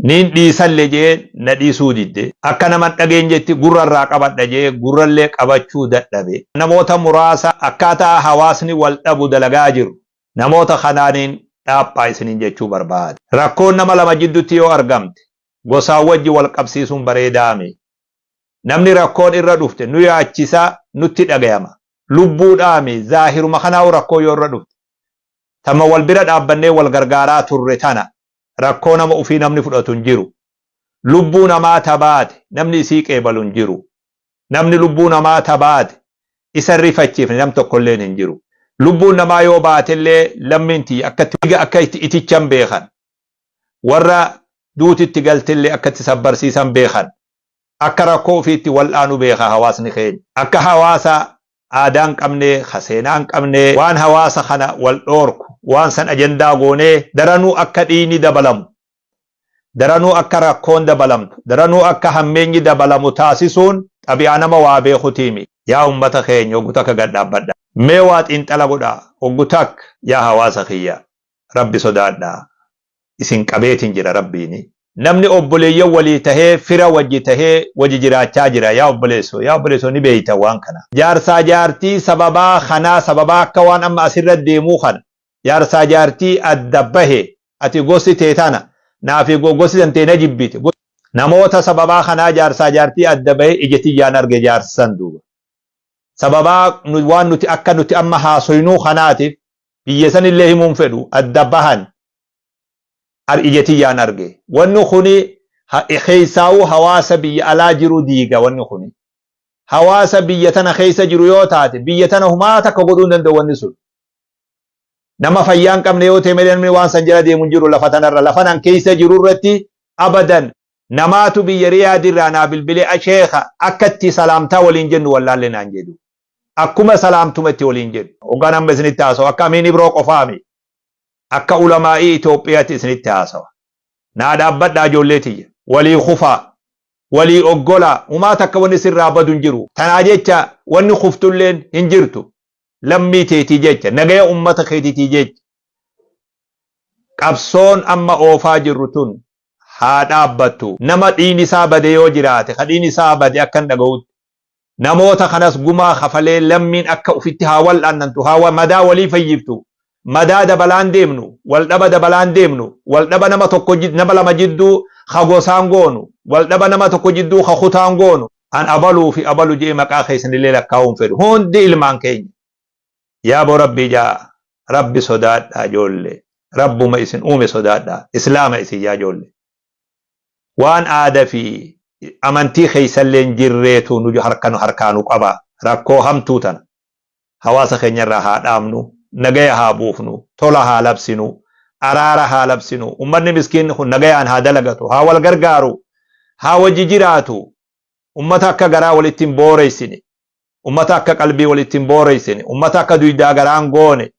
Niin dhiisalle je'ee na dhiisuu didde. Akka nama hin dhageenyetti gurra irraa qabadha je'ee gurrallee qabachuu dadhabe. Namoota muraasa akkaataa hawaasni wal dhabu dalagaa jiru. Namoota kanaaniin dhaaphaa isiniin jechuu barbaada. Rakkoon nama lama jiddutti yoo argamte gosaan wajji wal qabsiisuun bareedaami. Namni rakkoon irra dhufte nu yaachisa, nutti dhagayama. Lubbuudhaami zaahiruma kanaa'uu rakkoo yoo irra dhufte. Tama wal bira dhaabbannee wal gargaaraa turre tana. rakkoo nama ufii namni fudhatu hin jiru. Lubbuu namaa ta baate namni isii qeebalu hin jiru. Namni lubbuu namaa ta baate isa hin rifachiifne nam tokkolleen hin jiru. Lubbuun namaa yoo baatellee lammiin tiyya akkatti dhiiga akka itti itichan beekan. Warra duuti itti galtellee akka itti sabbarsiisan beekan. akka rakkoo ufiitti wal'aanu beeka hawaasni keenya. Akka hawaasa aadaa hin qabne, ka seenaa hin qabne, waan hawaasa kana wal dhoorku, waan san ajandaa goonee daranuu akka dhiiyni dabalamu, daranuu akka rakkoon dabalamtu, daranuu akka hammeenyi dabalamu taasisuun xabi'aa nama waa beekutii miti. Yaa ummata keenya hoggu takka gad dhaabbadhaa. Mee waa xiinxala godhaa hoggu takka yaa hawaasa kiyya. rabbi sodaadha isin qabeetin jira rabbiini. Namni obboleeyyan walii tahee fira wajji tahee waji jiraachaa jira yaa obboleesso yaa obboleesso ni beeyta waan kana jaarsaa jaartii sababaa kanaa sababaa akka waan amma asirra deemuu kana jaarsaa jaartii adda bahe ati gosti tee tana naafi gosti tantee na jibbite namoota sababaa kanaa jaarsaa jaartii adda bahe ija tiyyaan arge jaarsa san duuba sababaa waan nuti akka nuti amma haasoynuu kanaatiif biyya sanillee himuun fedhu adda bahan ar ija tiyyaan arge wanni kuni ha- keessaawuu hawaasa biyya alaa jiru diiga wanni kuni hawaasa biyya tana keessa jiru yoo taate biyya tana humaa takka godhuu hin danda'u wanni sun nama fayyaa hin qabne yoo ta'e malee namni waan san jala deemu hin jiru lafa tanarra lafa nan keessa jiru irratti abadan namaatu biyya riyaad irraa naa bilbilee asheeka akkatti salaamtaa waliin jennu wallaalle naan jedhu Akkuma salaamtuma itti waliin jedhu. Hoggaan amma isinitti haasawu akka Amiin Ibroo qofaa miti. Akka Ulamaa'ii Itoophiyatti isinitti haasawa. Naa dhaabbadhaa ijoollee tiyya. Walii kufaa. Walii oggolaa. Humaa takka wanni sirraa badu hin jiru. Tanaa jecha wanni kuftulleen hin jirtu. Lammii teetii jecha. Nagaya ummata keetitii jecha. Qabsoon amma oofaa jirru tun haa dhaabbattu. Nama dhiigni isaa bade yoo jiraate, ka dhiigni isaa bade akka hin dhagawutti. Namoota kanas gumaa kafalee lammiin akka ufitti haa wal'aannantu, haa madaa walii fayyiftu. Madaa dabalaan deemnu, waldhaba dabalaan deemnu, waldhaba nama tokko nama lama jidduu ka gosaan goonu, waldhaba nama tokko jidduu ka kutaan goonu. An abaluu fi abalu je'ee maqaa keessanillee lakkaawuu hin fedhu. Hundi ilmaan keenya. Yaaboo Rabbii ja'a. Rabbi sodaadhaa joolle. Rabbuma isin uume sodaadhaa. Islaama isin yaa joolle. waan aada fi amantii keessallee hin jirreetu nu harka nu harkaa nu qaba. Rakkoo hamtuu tana hawaasa keenya irraa haa dhaabnu, nagaya haa buufnu, tola haa labsinu, araara haa labsinu, ummanni miskiinni kun nagayaan haa dalagatu, haa wal gargaaru, haa wajji jiraatu, ummata akka garaa walitti hin booreessine, ummata akka qalbii walitti hin booreessine, ummata akka duydaa garaa hin goone,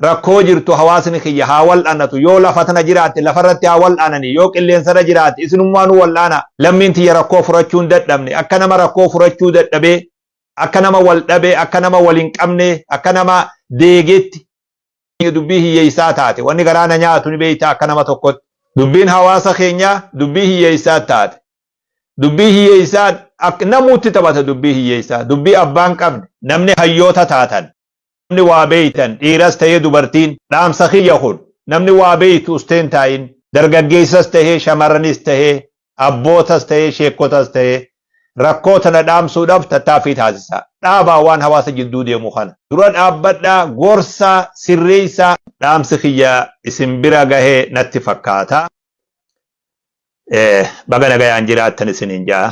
rakkoo jirtu hawaasni kiyya haa wal'anatu, yoo lafa tana jiraatte lafarratti haa wal'ananii, yoo qilleensarra jiraatte isinummaanuu wal'aanaa, lammiin tiyya rakkoo furachuu hin dadhabne, akka nama rakkoo furachuu dadhabee, akka nama wal dhabee, akka nama wal hin qabnee, akka nama deegeetti, keenya dubbii hiyyeessaa taate wanni garaa na nyaatu ni beektaa akka nama tokkotti dubbiin hawaasa keenyaa dubbii hiyyeessaa taate dubbii hiyyeessaa akka namuutti taphata dubbii hiyyeessaa dubbii abbaan qabne namni hayyoota taatan namni waa beektan dhiiras ta'ee dubartiin dhaamsa kiyya kun namni waa beektu usteen taa'in dargaggeessas ta'ee shamarranis ta'ee abbootas ta'ee sheekkotas ta'ee rakkoo tana dhaamsuudhaaf tattaaffii taasisaa. Dhaabaa waan hawaasa jidduu deemu kana. Dura dhaabbadhaa, gorsaa, sirreessaa. Dhaamsi kiyya isin bira gahee natti fakkaata. Baga nagayaan jiraattan isiniin ja'a.